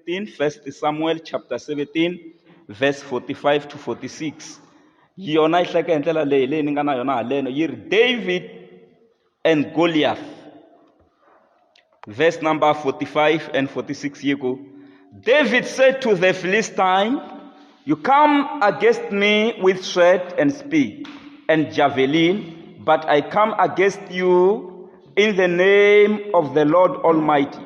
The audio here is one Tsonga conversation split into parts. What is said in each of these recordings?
17, 1 Samuel chapter 17 verse 45 to 46 yona yi hleka hi ndlela leyi leyi ni nga na yona haleno yi ri david and goliath verse number 45 and 46 yi ku david said to the philistine you come against me with sword and spear and javelin but i come against you in the name of the lord almighty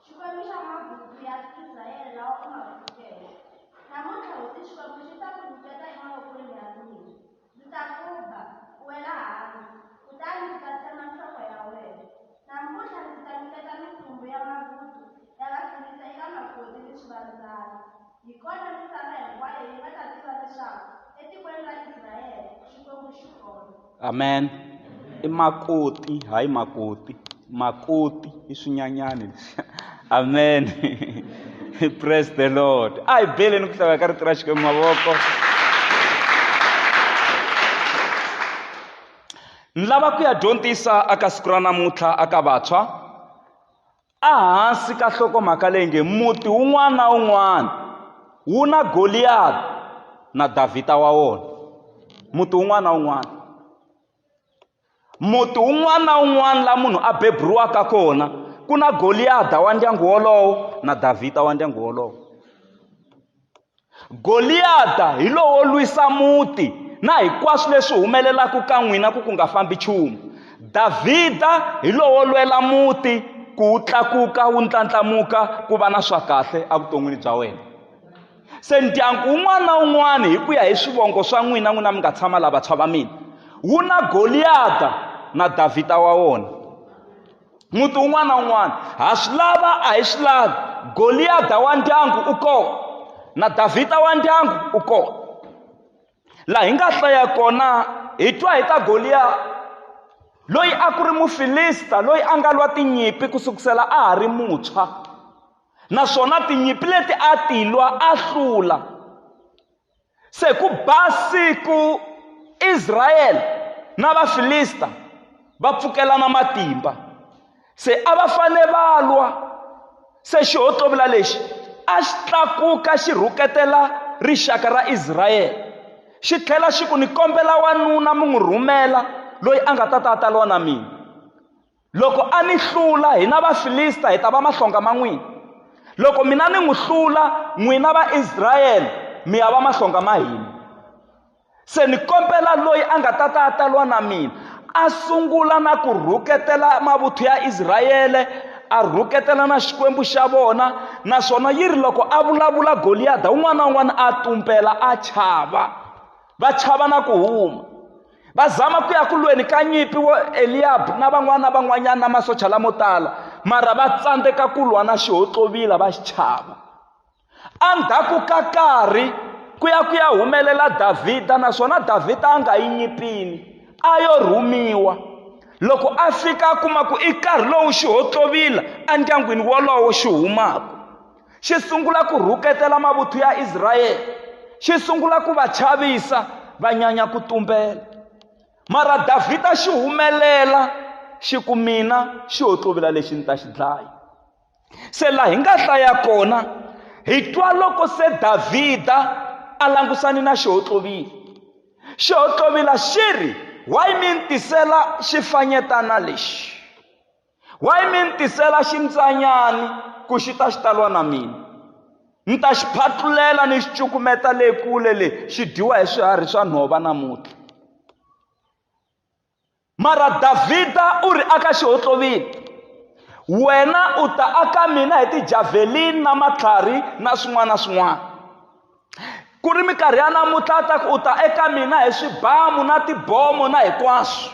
Xikwembu xa mabutsu ya Israyele lawa u ma pfukeke. Namuntlha hosi Xikwembu xi ta ku nyiketa emavokweni ya mina. Ndzi ta ku ba, u wela hansi, kutani ndzi ta tsema nhloko ya wena. Namuntlha ndzi ta nyiketa mintsumbu ya mabutsu ya Vafilista eka makoti ni swivandzana. Hi kona misava hinkwayo yi nga ta tiva leswaku etikweni ra Israyele Xikwembu xi kona. Amen. I makoti, hayi makoti. Makoti i swinyanyani leswi. Amen. Praise the Lord. A hi beleni ku hlawula ka rito ra Xikwembu mavoko. Ni lava ku ya dyondzisa aka siku ra namuntlha aka vantshwa Ehansi ka nhlokomhaka leyi nge Muti wun'wana na wun'wana wu na Goliyada na Davhida wa wona. Muti wun'wana na wun'wana. Muti wun'wana na wun'wana laha munhu a beburiwaka kona ku na Goliyada wa ndyangu wolowo na Davhida wa ndyangu wolowo. Goliyada hi lowo lwisa muti na hinkwaswo leswi humelelaka ka n'wina ku ku nga fambi nchumu. Davhida hi lowo lwela muti ku wu tlakuka wu ndlandlamuka ku va na swa kahle evuton'wini bya wena. Se ndyangu wun'wana na wun'wana hi ku ya hi swivongo swa n'wina n'wina mi nga tshama laha vantshwa va mina, wu na Goliyada na Davhida wa wona. muti un'wana na un'wana ha swi lava a hi swi lavi goliyada wa ndyangu u kona na davhida wa ndyangu u kona laha hi nga hlaya kona hi twa hi ta goliyada loyi a ku ri mufilista loyi a nga lwa tinyimpi ku sukusela a ha ri muntshwa naswona tinyimpi leti a ti lwa a hlula Se ku ba siku Israyele na Vafilista va pfukelana matimba. Se a va fane va lwa. Se xihotlovula lexi a xi tlakuka xi rhuketela rixaka ra Israyele, xi tlhela xi ku, Ni kombela wanuna mi n'wi rhumela loyi a nga ta ta a ta lwa na mina. loko a ni hlula hina vafilista hi ta va mahlonga ma n'wina loko mina ni n'wi hlula n'wina vaisrayele mi ya va mahlonga ma hina se ni kombela loyi a nga ta ta a ta lwa na mina a sungula na ku rhuketela mavuthu ya israyele a rhuketela na xikwembu xa vona naswona yi ri loko a vulavula goliyada un'wana na un'wana a tumbela a chava va chava na ku huma va zama ku ya ku lweni ka nyimpi wo eliyabu na van'wana na van'wanyana na masocha lamo tala mara va tsandzeka ku lwa na xihotlovila va xi chava endzhaku ka karhi ku ya ku ya humelela davhida naswona davhida a nga yi nyipini a yo rhumiwa loko a fika a kuma ku i nkarhi lowu xihotlovila endyangwini wolowo xi humaka xi sungula ku rhuketela mavuthu ya israyele xi sungula ku va chavisa va nyanya ku tumbela mara davhida xi humelela xi ku mina xi ho tlovela lexi ni ta xi dlaya se laha hi nga hlaya kona hi twa loko se davhida a langusani na xi ho tlovile xi ho tlovila xi ri why mi ni tisela xifanyetana lexi Why mi ni tisela ximbyanyani ku xi ta xi ta lwa na mina? Ni ta xi phatlulela ni xi cukumeta le kule le xi dyiwa hi swiharhi swa nhova namuntlha. Mara Davhida u ri aka xihotlovini, wena u ta aka mina hi tijavelini na matlhari na swin'wana na swin'wana. ku ri minkarhi ya namuntlha ta ku u ta eka mina hi swibamu na tibomo na hinkwaswo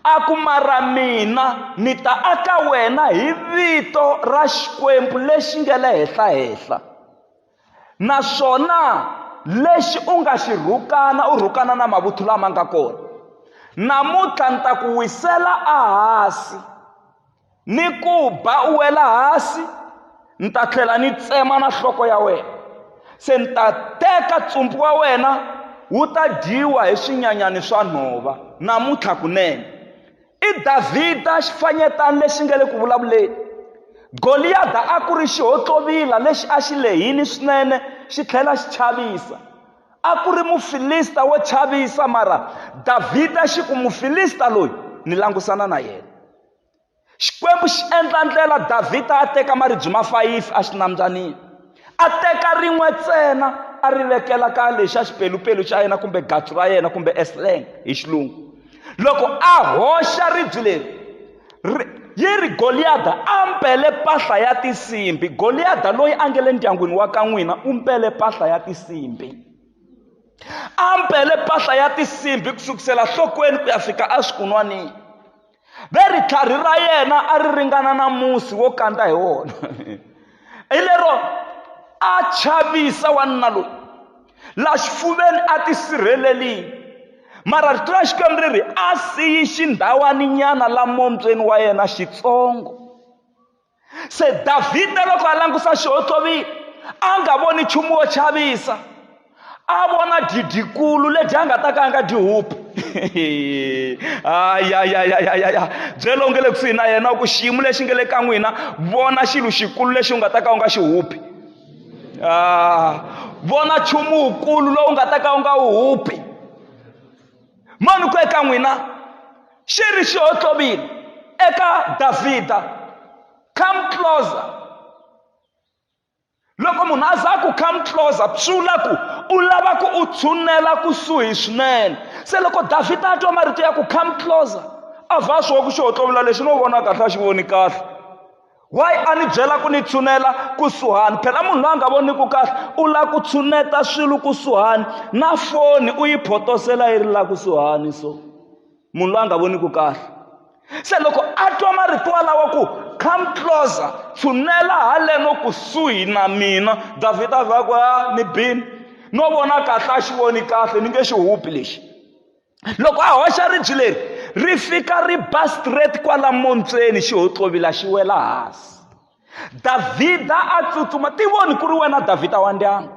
a ku mara mina ni ta aka wena hi vito ra xikwembu lexi nga le henhla henhla naswona lexi u nga xi rhukana u rhukana na mavuthu lama nga kona namuntlha ni ta ku wisela ahasi ni ku ba u wela hansi ni ta tlhela ni tsema na nhloko ya wena se ni ta teka tsumbu wa wena wu ta dyiwa hi swinyanyani swa nhova namuntlha kunene i davhida xifanyetani lexi nga le ku vulavuleni goliyada a ku ri xihotlwovila lexi a xi lehini swinene xi tlhela xi chavisa a ku ri mufilista wo chavisa mara davhida xi ku mufilista loyi ni langusana na yena Xikwembu xi endla ndlela Davhida a teka maribye ma fayifi exinambyaniini. A teka rin'we ntsena a ri vekela ka lexi a xipelupelu xa yena kumbe gatsu ra yena kumbe esleng hi xilungu. Loko a hoxa ribye leri yi ri goliyada a mbele mpahla ya tinsimbi goliyada loyi a nge le ndyangwini wa ka n'wina u mbele mpahla ya tinsimbi a mbele mpahla ya tinsimbi ku sukusela nhlokweni ku ya fika eswikunwanini ve ritlhari ra yena a ri ringana na musi wo kandza hi wona hi lero a chavisa wanuna loyi la xifuveni a tisirhelelile mara rito ra xikwembu ri ri a siyi xindhawaninyana la mombyeni wa yena xitsongo se davhida loko a langusa xihontlovili a nga voni nchumu wo chavisa a vona didikulu lebyi a nga ta ka a nga dyi hupi ayayayayaya byela u nge le kusuhi na yena ku xiyimo lexi nge le ka n'wina vona xilo xikulu lexi u nga ta ka u nga xi hupi ah, vona nchumu wukulu lowu nga ta ka u nga wu hupi mani ku eka n'wina xi ri xi hotlovile eka davhida come closer loko munhu a za ku come closer swi vula ku u lava ku u tshunela kusuhi swinene se loko davhida a twa marito ya ku come closer a vha a swi wa ku xi hotlovula lexi no vona kahle a xi voni kahle wayi a ni byela ku ni tshunela kusuhani phela munhu loyi a nga voniki kahle u lava ku tshuneta swilo kusuhani na foni u yi photosela yi ri laha kusuhani so munhu loyi a nga voniki kahle se loko a twa marito walawa ku come closer tshunela haleno kusuhi na mina davhida a vha ku a ah, ni bini no vona kahle a xi voni kahle ni nge xi hupi lexi loko a hoxa ribyi leri ri fika ri ba straight kwala montsweni xi hotlovila xi wela hansi davhida a tsutsuma ti voni ku ri wena davhida wa ndyangu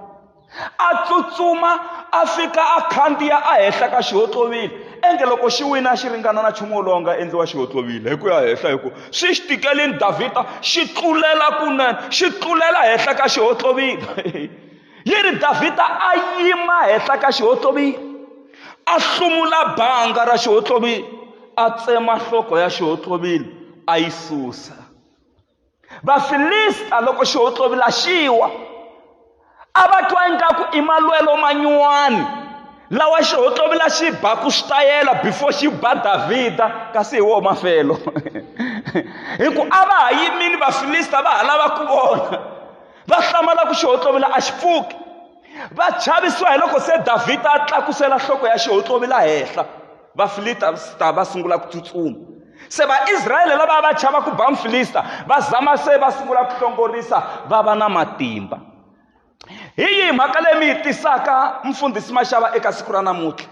a tsutsuma a fika a khandziya a henhla ka xihotlovile enge loko xi wina xi ringana na nchumu wolowo nga endliwa xihotlovile hi ku ya henhla hi ku swi xi tikelini davhida xi tlulela kunene xi tlulela henhla ka xihotlovile yi ri davhida a yima henhla ka xihotlovi a hlumula banga ra xihotlovi a tsema nhloko ya xihotlovile a yi susa vafilista loko xihotlovi la xiwa a va twa ingaku i malwelo manyuwani lawa xihotlovi la xi baku switayela before xi ba davhida kasi hi woho mafelo hi ku a va ha yimini vafilista va ha lava ku vona va hlamala ku xihotlovila a xi pfuki va chavisiwa hi loko se davhida a tlakusela nhloko ya xihotlovila henhla vafilista va sungula ku tsutsuma se vaisrayele lava va chava ku ba mfilista va zama se va sungula ku hlongorisa va va na matimba hi yihi mhaka leyi mi yi tisaka mfundhisi maxava eka siku ra namuntlha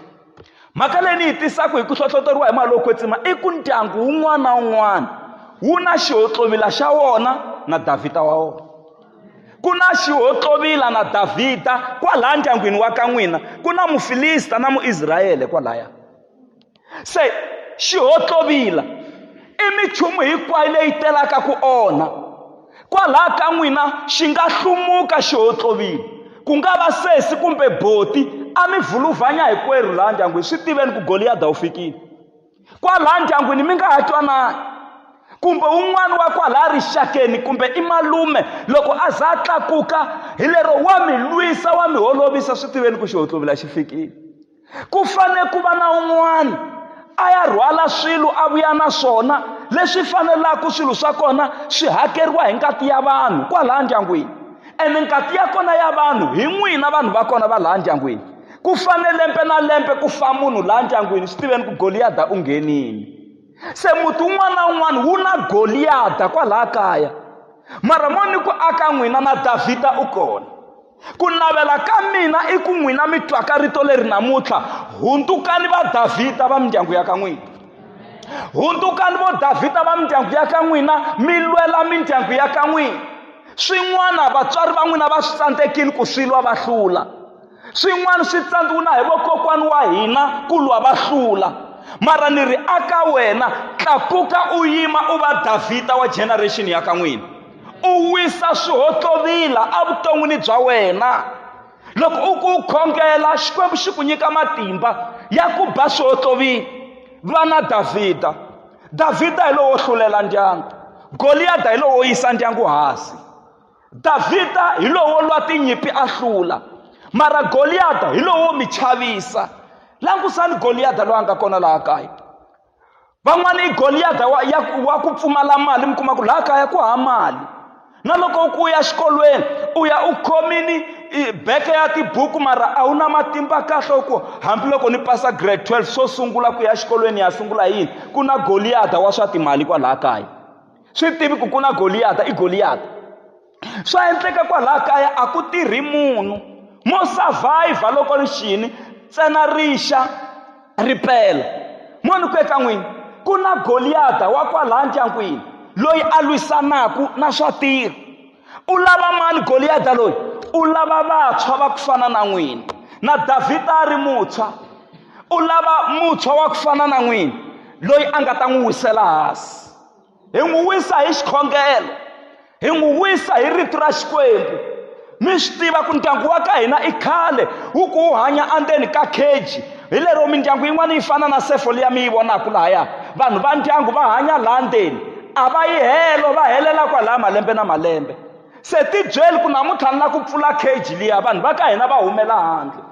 mhaka leyi ni yi tisaka hi ku hlohloteriwa hi mali yo kwetsima i ku ndyangu wun'wana na wun'wana wu na xihotlovila xa wona na davhida wa wona ku na xihotlovila na davhida kwalaya ndyangwini wa ka n'wina ku na mufilista na muisrayele kwalaya se xihotlovila i minchumu hinkwayo leyi telaka ku onha kwalaha ka n'wina xi nga hlumuka xi hotlovile ku nga va sesi kumbe boti a mi vhuluvhanya hikwerhu laha ndyangwini swi tiveni ku goliyada wu fikile kwalaha ndyangwini mi nga ha twanani kumbe un'wana wa kwalaha rixakeni kumbe i malume loko a za a tlakuka hi lero wa mi lwisa wa mi holovisa swi tiveni ku xi hotlovila xi fikile ku fane ku va na un'wana a ya rhwala swilo a vuya na swona leswi fanelaka swilo swa kona swi hakeriwa hi ngati ya vanhu kwalaha ndyangwini ene ngati ya kona ya vanhu hi n'wina vanhu va kona va laha ndyangwini ku fane lembe na lembe ku fa munhu laha ndyangwini swi tiveni ku goliyada u nghenini se muti wun'wana na wun'wana wu na goliyada kwalaha kaya mara mo ni ku aka n'wina na davhida u kona ku navela ka mina i ku n'wina mi twaka rito leri namuntlha hundzukani va davhida va mindyangu ya ka n'wina hundzukani vo davhida va mindyangu ya ka n'wina mi lwela mindyangu ya ka n'wina swin'wana vatswari va n'wina va swi tsandzekile ku swi lwa va hlula swin'wana swi tsandziwina hi vokokwani wa hina ku lwa va hlula mara ni ri aka wena tlakuka u yima u va davhida wa generation ya ka n'wina u wisa swihohlovila evuton'wini bya wena loko u ku khongela xikwembu xi ku nyika matimba ya ku ba swihohlovila vana davhida davhida hi lowo hlulela ndyangu goliyada hi lowo yisa ndyangu hansi davhida hi lowo lwa tinyimpi a hlula mara goliyada hi lowo mi chavisa langusani goliyada loyi a nga kona laha kaya van'wana i goliyada wa, wa ku pfumala mali mi kuma ku laha kaya ku ha mali na loko ku ya xikolweni u ya u khomini beke ya tibuku mara a wu na matimba kahle u ku hambiloko ni pasa grade 12 swo sungula ku ya xikolweni ya sungula yini ku na goliyada wa swa timali kwalaha kaya swi tivi ku ku na goliyada i goliyada swa endleka kwalaho kaya a ku tirhi munhu mo survive loko ri xini ntsena rixa ri pela mo ni ku eka n'wini ku na goliyada wa kwalaha ndyangwini loyi a lwisanaka na swa tirha u lava mani goliyada loyi u lava vantshwa va ku fana na n'wina na davhida a ri mutshwa u lava mutshwa wa ku fana na n'wina loyi a nga ta n'wi wisela hansi hi n'wi wisa hi xikhongelo hi n'wi wisa hi rito ra xikwembu mi swi tiva ku ndyangu wa ka hina i khale wu ku wu hanya andzeni ka keji hi lero mindyangu yin'wana yi fana na sefo liya mi yi vonaka lahaya vanhu va ndyangu va hanya laha ndzeni a va yi helo va helela kwalaha malembe na malembe se tibyeli ku namuntlha ni la ku pfula keji liya vanhu va ka hina va humela handle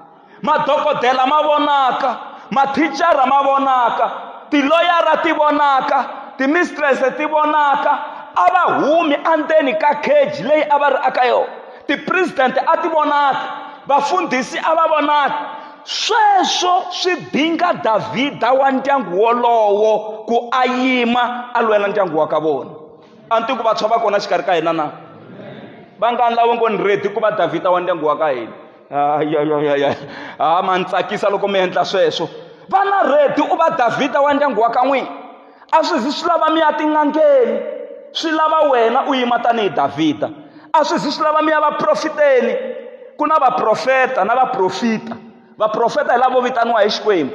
madokodela ma vonaka mathicara ma vonaka tiloyara ti vonaka timistrese ti vonaka a va humi endzeni ka cage leyi a va ri aka yona tipresidente a ti vonaki vafundhisi a va vonaki sweswo swi dinga davhida wa ndyangu wolowo ku a yima a lwela ndyangu wa ka vona a ni tiku vantshwa va kona xikarhi ka hina na vangani lavo ngo ni redi ku va davhida wa ndyangu wa ka hina ayoyoyoyo ha ma ni tsakisa loko mi endla sweswo vana redi u va davhida wa ndyangu wa ka n'wini a swi zi swi lava mi ya tin'angeni swi lava wena u yima tanihi davhida a swi zi swi lava mi ya vaprofiteni ku na vaprofeta na vaprofita vaprofeta hi lavo vitaniwa hi xikwembu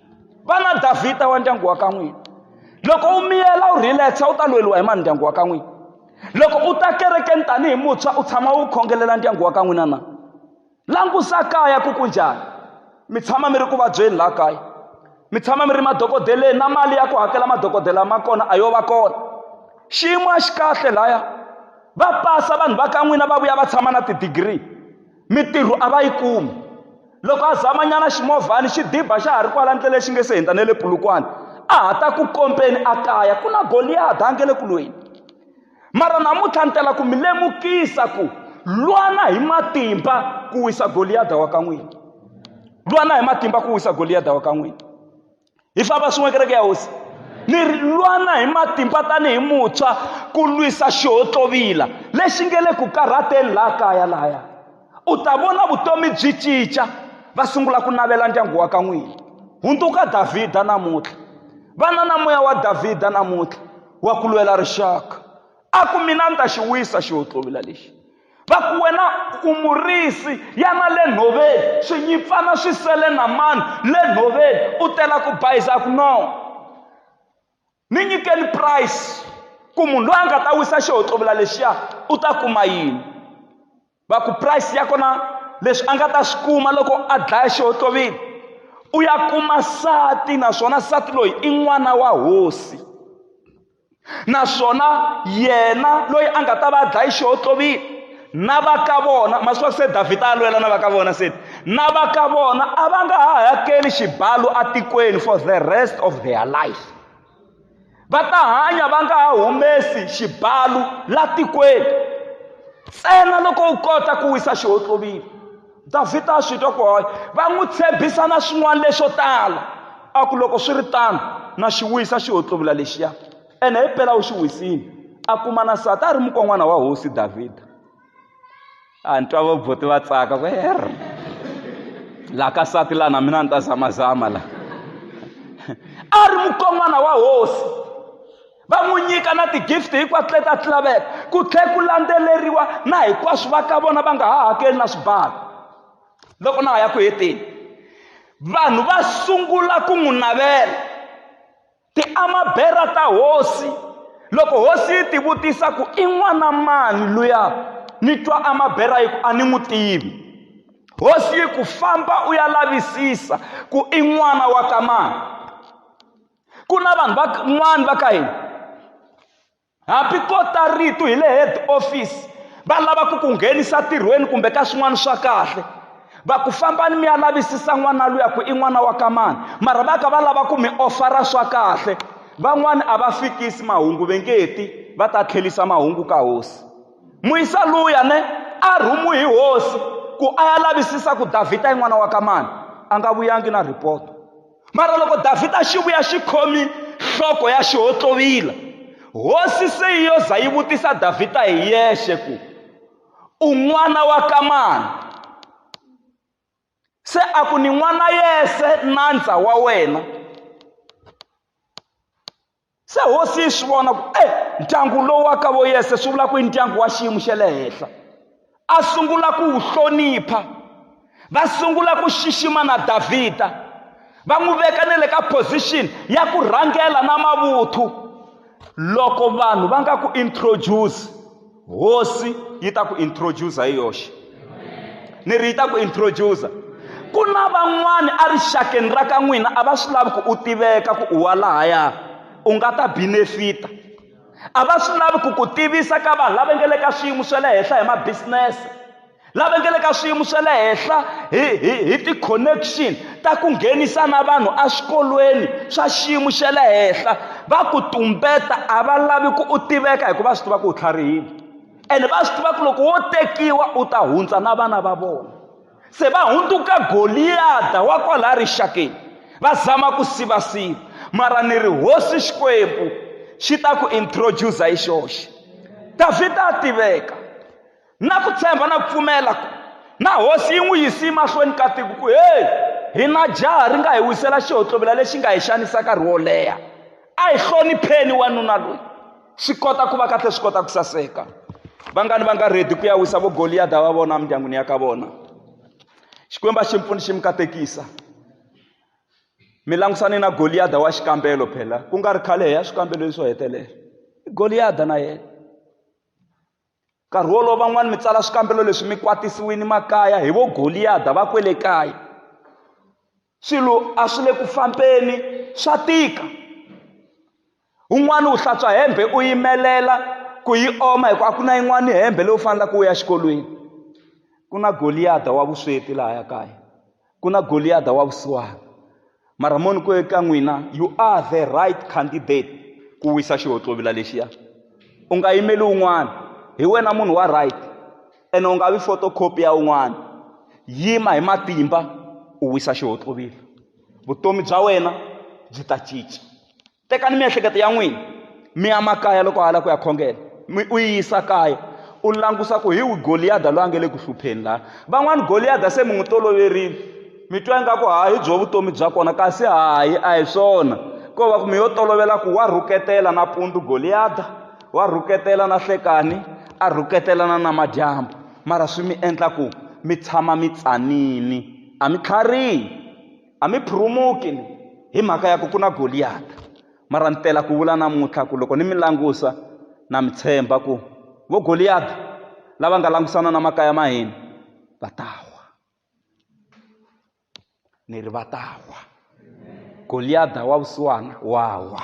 va na davhida wa ndyangu wa ka n'wina loko u miyela u relaxa u ta lweriwa hi mani ndyangu wa ka n'wina loko u ta kerekeni tanihi muntshwa u tshama u khongelela ndyangu wa ka n'wina na langusa kaya ku ku njhani mi tshama mi ri ku vabyeni laha kaya mi tshama mi ri madokodeleni na mali ya ku hakela madokodela ma kona a yo va kona xiyimo a xi kahle laya va pasa vanhu va ka n'wina va vuya va tshama na tidigiri Mitirho a va yi kumi. Loko a zamanyana ximovhana xi diba xa ha ri kwala ndleleni xi nge se hundza na le Polokwane, a ha ta ku kompeni a kaya ku na Goliyada a nge le ku lweni. Mara namuntlha ni tela ku mi lemukisa ku lwana hi matimba ku wisa Goliyada wa ka n'wina. Lwana hi matimba ku wisa Goliyada wa ka n'wina. hi famba swin'we kereke ya hosi ni lwana hi matimba tanihi muntshwa ku lwisa xihotlovila lexi nge le ku karhateni laha kaya laya u ta vona vutomi byi cinca va sungula ku navela ndyangu wa ka n'wini hundzuka davhida namuntlha vana na moya wa davhida namuntlha wa ku lwela rixaka a ku mina ni ta xi wisa xihotlovila lexi va ku wena u murisi yana le nhoveni swinyipfana swi sele na mani le nhoveni u tela ku bayiza ku no ni nyikeni price ku munhu loyi a nga ta wisa xihoxovula lexiya u ta kuma yini va ku price ya kona leswi a nga ta swi kuma loko a dlaya xihoxovile u ya kuma sati naswona sati loyi i n'wana wa hosi naswona yena loyi a nga ta va a dlaye xihotlovile na va ka vona masiku ya se davhida a lwela na va ka vona se na va ka vona a va nga ha hakeli xibalo atikweni for the rest of their life va ta hanya va nga ha humesi xibalo la tikweni ntsena loko u kota ku wisa xihotlovile davhida a swi twa ku hoya va n'wi tshembisa na swin'wana leswo tala a ku loko swi ri tano na xi wisa xi hotluvula lexiya ene hi pela u xi wisile a kuma na nsati a ri mukon'wana wa hosi davhida a ni twa vaboti va tsaka ku her laha ka nsati laha na mina ni ta zamazama laha a ri mukon'wana wa hosi va n'wi nyika na ti-gift hinkwato leta ti laveka ku tlhe ku landzeleriwa na hinkwaswo va ka vona va nga ha hakeli na swibalo loko na ha ya ku heteni vanhu va sungula ku n'wi navela ti amabera ta hosi loko hosi yi tivutisa ku i n'wana mani luya ni twa amabera yi ku a ni n'wi tivi hosi yi ku famba u ya lavisisa ku i n'wana wa ka mani ku na vanhu van'wana va ka hina hambi ko ta rito hi le head office va lava ku ku nghenisa tirhweni kumbe ka swin'wana swa kahle va ku fambani mi ya lavisisa n'wana luya ku i n'wana wa ka mani mara va ka va lava ku mi ofara swa kahle van'wani a va fikisi mahungu ve nge ti va ta tlhelisa mahungu ka hosi muyisa luya ne a rhumu hi hosi ku a ya lavisisa ku davhida i n'wana wa ka mani a nga vuyangi na ripoto mara loko davhida a xi vuya xi khomi nhloko ya xihotlovila hosi se yi yo za yi vutisa davhida hi yexe ku u n'wana wa kamani se a ku ni n'wana yese nandza wa wena se hosi yi swi vona ku e ndyangu lowu wa ka vo yese swi vula ku i ndyangu wa xiyimo xa le henhla a sungula ku wu hlonipha va sungula ku xixima na davhida va n'wi veka ne le ka position ya ku rhangela na mavuthu loko vanhu va nga ku introduce hosi yi ta ku introducer hi yoxe ni ri yi ta ku introducer ku na van'wana erixakeni ra ka n'wina a va swi lavi ku u tiveka ku u wa lahaya u nga ta benefita a va swi lavi ku ku tivisa ka vanhu lava nge le ka swiyimo swa le henhla hi mabisinese lava nga le ka swiyimo swa le henhla hi hi hi ti-connection ta ku nghenisa na vanhu eswikolweni swa xiyimo xa le henhla va ku tumbeta a va lavi ku u tiveka hikuva swi tiva ku u tlharihile ene va swi tiva ku loko wo tekiwa u ta hundza na vana va vona se va hundzuka goliyada wa kwalaya rixakeni va zama ku sivasiva mara ni ri hosi xikwembu xi ta ku introducer hi xoxe davhida a tiveka Na ku tshemba na ku pfumela ku na hosi yi n'wi yisi emahlweni ka tiko ku heyi hi na jaha ri nga hi wisela xihotlovela lexi nga hi xanisa nkarhi wo leha a hi hlonipheni wanuna loyi swi kota ku va kahle swi kota ku saseka vangani va nga redi ku ya wisa vo goliyada va vona emindyangwini ya ka vona xikwembu a xi mpfuni xi mi katekisa mi langusane na goliyada wa xikambelo phela ku nga ri khale hi ya swikambeloyi swo hetelela goliyada na yena nkarhi wolowo van'wani mi tsala swikambelo leswi mi kwatisiwini makaya hi vo goliyada va kwele kaya swilo a swi le ku fambeni swa tika un'wana u hlantswa hembe u yimelela ku yi oma hi ku a ku na yin'wana hembe leyi u faneleke u ya xikolweni ku na goliyada wa vusweti lahaya kaya ku na Goliyada wa vusiwana. Mara moni ku eka n'wina, you are the right candidate ku wisa xihontlovila lexiya. U nga yimeli un'wana, hi wena munhu wa right ene u nga vi photocopy ya un'wana. Yima hi matimba u wisa xihontlovila, vutomi bya wena byi ta cinca. tekani miehleketo ya n'wina mi ya makaya loko a lava ku ya khongela mi u yi yisa kaya u langusa ku hi wi goliyada loyi a nge le ku hlupheni laha van'wani goliyada se mi n'wi toloverile mi twa ingaku ha hi byo vutomi bya kona kasi hayi a hi swona ko va ku mi yo tolovela ku wa rhuketela na pundu goliyada wa rhuketela na hlekani a rhuketelana na madyambu mara swi mi endla ku mi tshama mi tsanini a mi tlharihi a mi phurumuki hi mhaka ya ku ku na goliyata mara ni tela ku vula namuntlha ku loko ni mi langusa na mi tshemba ku vo goliyata lava nga langusana na makaya ma hina va ta wa ni ri va ta wa goliyada wa vusiwana wa wa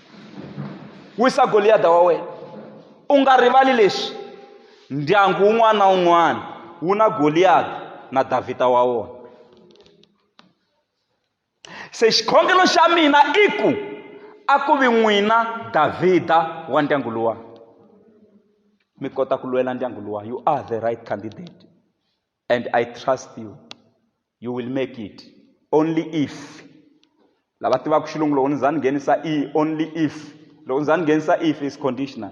wisa goliyada wa wena u nga rivali leswi ndyangu wun'wana na wun'wana wu na goliyada na davhida wa wona se xikhongelo xa mina i ku a ku vi n'wina davhida wa ndyangu luwa mi kota ku lwela ndyangu luwa you are the right candidate and i trust you you will make it only if lava tivaka xilungu loko ni za ni nghenisa e only if loko ni za ni nghenisa if is conditional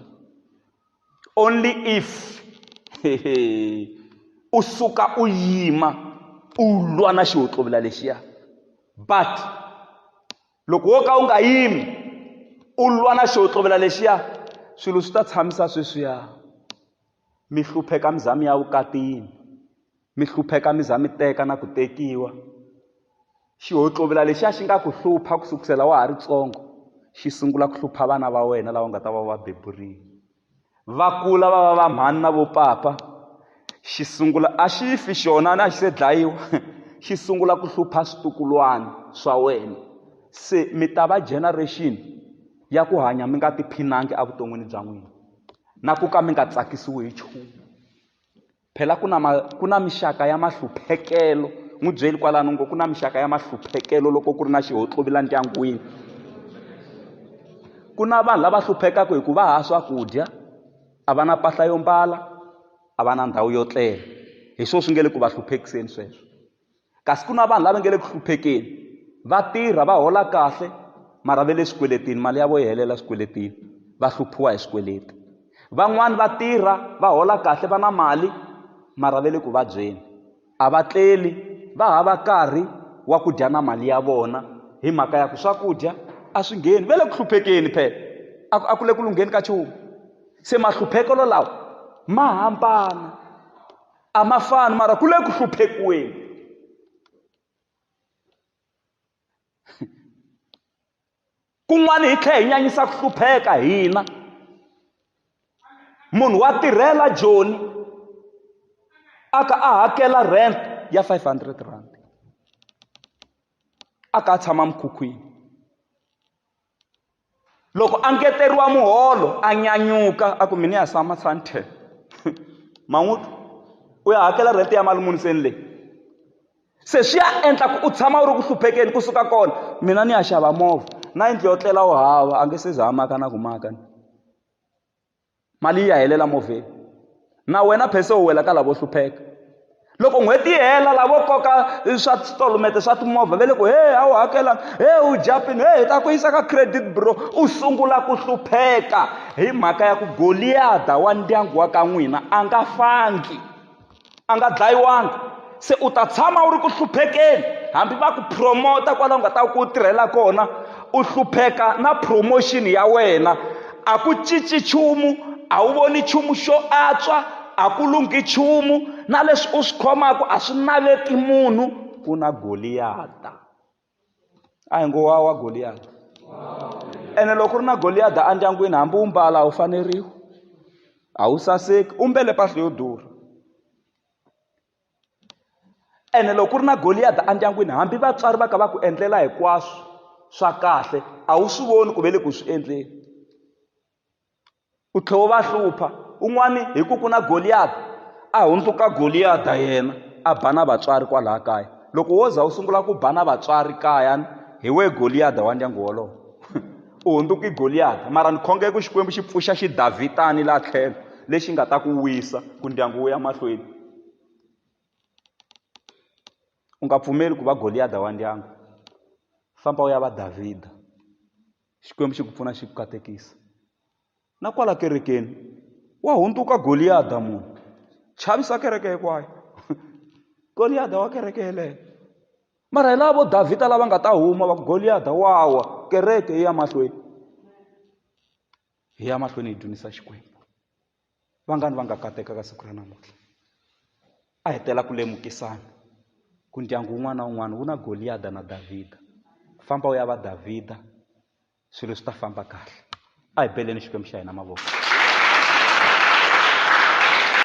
only if u suka u yima u lwa na xiwotlovula lexiya but loko wo ka u nga yimi u lwa na xiwotlovula lexiya swilo swi ta tshamisa sweswiya Mi hlupheka mi za mi ya vukatini, mi hlupheka mi za mi teka na ku tekiwa. Xihotlovila lexiya xi nga ku hlupha ku sukusela wa ha ri tsongo xi sungula ku hlupha vana va wena lava nga ta va va beburile va kula va va va mhani na vopapa xi sungula a xi fi xona a xi se dlayiwa xi sungula ku hlupha switukulwana swa wena se mi ta va generation ya ku hanya mi nga tiphinangi evuton'wini bya n'wina na ku ka mi nga tsakisiwi hi nchumu phela ku na ma ku na mixaka ya mahluphekelo n'wi byeli kwalano ngo ku na mixaka ya mahluphekelo loko ku ri na xihotlovila ndyangwini ku na vanhu lava hluphekaka hi ku va ha swakudya a va na mpahla yo mbala a va na ndhawu yo tlela hi swona swi nge le ku va hluphekiseni sweswo kasi ku na vanhu lava nge le ku hluphekeni va tirha va hola kahle mara ve le swikweletini mali ya vo yi helela swikweletini va hluphiwa hi swikweleti van'wani va tirha va hola kahle va na mali mara ve le ku vabyeni a va tleli va hava karhi wa ku dya na mali ya vona hi mhaka ya ku swakudya a swi ngheni ve le ku hluphekeni phela a ku le ku lungheni ka chumu se mahluphekelo lawa ma hambana a ma fani mara ku le ku hluphekiweni kun'wana hi tlhela hi nyanyisa ku hlupheka hina munhu wa tirhela joni a ka a hakela rent ya 500 rand a ka a tshama mikhukhwini loko a ngeteriwa muholo a nyanyuka a ku mina ya sama santen man'uti u ya hakela rent ya mali muni se ni leyi se swi ya endla ku u tshama u ri ku hluphekeni kusuka kona mina ni ya xava movha na yindlu yo tlela u hava a nge se za a maka na ku maka ni mali yi ya helela movheni na wena phese u wela ka lavo hlupheka loko n'hweti yi hela lavo koka swa titolomete swa timovha ve le ku he a wu hakela he u japini he hi ta ku yisa ka credit bureau u sungula ku hlupheka hi mhaka ya ku goliyada wa ndyangu wa ka n'wina a nga fangi a nga dlayiwanga se u ta tshama u ri ku hluphekeni hambi va ku promota kwalaho nga ta ku u tirhela kona u hlupheka na promotion ya wena a ku cinci nchumu a wu voni nchumu xo antswa a ku lunghi nchumu na leswi u swi khomaka a swi naveti munhu ku na goliyata a hi ngo wa wa goliyada ene loko u ri na goliyada endyangwini hambi u mbala a wu faneriwi a wu saseki u mbele mpahla yo durha ene loko ku ri na goliyada endyangwini hambi vatswari va ka va ku endlela hinkwaswo swa kahle a wu swi voni ku ve le ku swi endleni U tlhe u va hlupha. Un'wani hi ku ku na Goliyati, a hundzuka Goliyata yena, a ba na vatswari kwalaya kaya. Loko wo za u sungula ku ba na vatswari kaya, hi wehe Goliyada wa ndyangu wolowo. U hundzuke Goliyati. Mara ni khongela ku Xikwembu xi pfuxa xidavhidana laha tlhelo, lexi nga ta ku wisa, ku ndyangu wu ya mahlweni. U nga pfumeli ku va Goliyada wa ndyangu. Famba u ya va Davhida. Xikwembu xi ku pfuna xi ku katekisa. Na kwala kerekeni wa hundzuka Goliyada munhu chavisa kereke hinkwayo Goliyada wa kereke yeleyo mara hi lava vo Davhida lava nga ta huma va ku Goliyada wa wa kereke yi ya mahlweni hi ya mahlweni hi dzunisa Xikwembu. vangani va nga katekaka siku ra namuntlha a hi tela ku lemukisana ku ndyangu wun'wana na wun'wana wu na goliyada na davhida famba u ya va davhida swilo swi ta famba kahle a hi beleni xikwembu xa hina mavoko